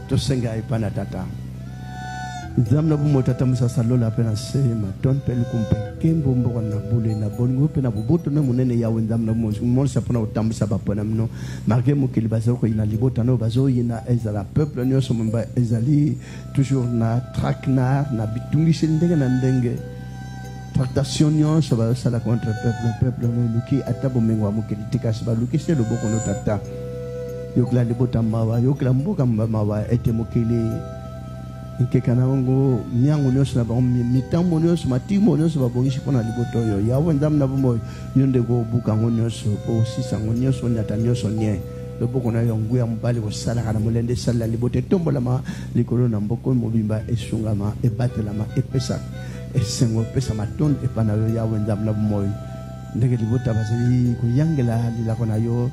tosenga epai na tata nzambe na bomoi tata mosasa lola mpe na se matone mpe liku mpe nkembo mboka na bule na bolingo mpe na boboto na monene yawe nzambe na bomoi monisa mpo na kotambwisa bapona mino marke mokili bazali koyina libota na oyo bazoyina ezala peuple nyonso momba ezali toujours na traque na na bitungiseli ndenge na ndenge tractation nyonso bazosala contre peuple peuple eluki ata bomengo ya mokili te kasi baluki se loboko no tata yokela libota mawa yokela mboka mawa ete mokili nkeka na yango miango nyonso na bango mitambo nyonso matimo nyonso babongisi mpo na libota oyo yawe nzambe na bomoi yo nde kobuka yango nyonso osisa yango nyonso onyata nyonso nie loboko na yo nguya mobali kosalaka na molende esalela libota etombolama likolo na mboko mobimba esungama ebatelama epesaka esengo epesa matondo epa na yo yawe nzambe na bomoi ndenge libota bazali koyangela lilako na yo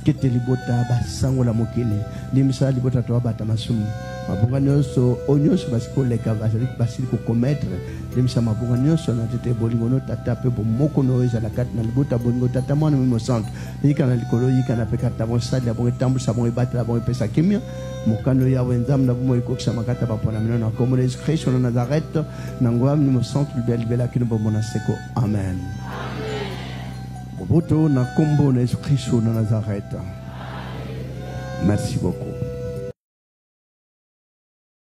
kete libota basangola mokili limbisa libota to babata masumu mabunga nyonso oyo nyonso basili koleka bazali basili kokometre limbisa mabunga nyonso na tete bolingo no tata mpe bomoko no ezala kati na libota bolingo tata mwana mimi mosantu yika na likolo yika na mpe kati na bonsali ya bongo etambwisa bongo ebatela bongo epesa kimia mokano yawe nzambe na bomoi ekokisama kati ya baponami no na nkombo na yesu kristo na nazarete na ngoya mlimo santu libela libela kino bombo na seko amen boboto na nkombo na yesu kristo na nazarete merci beaucoup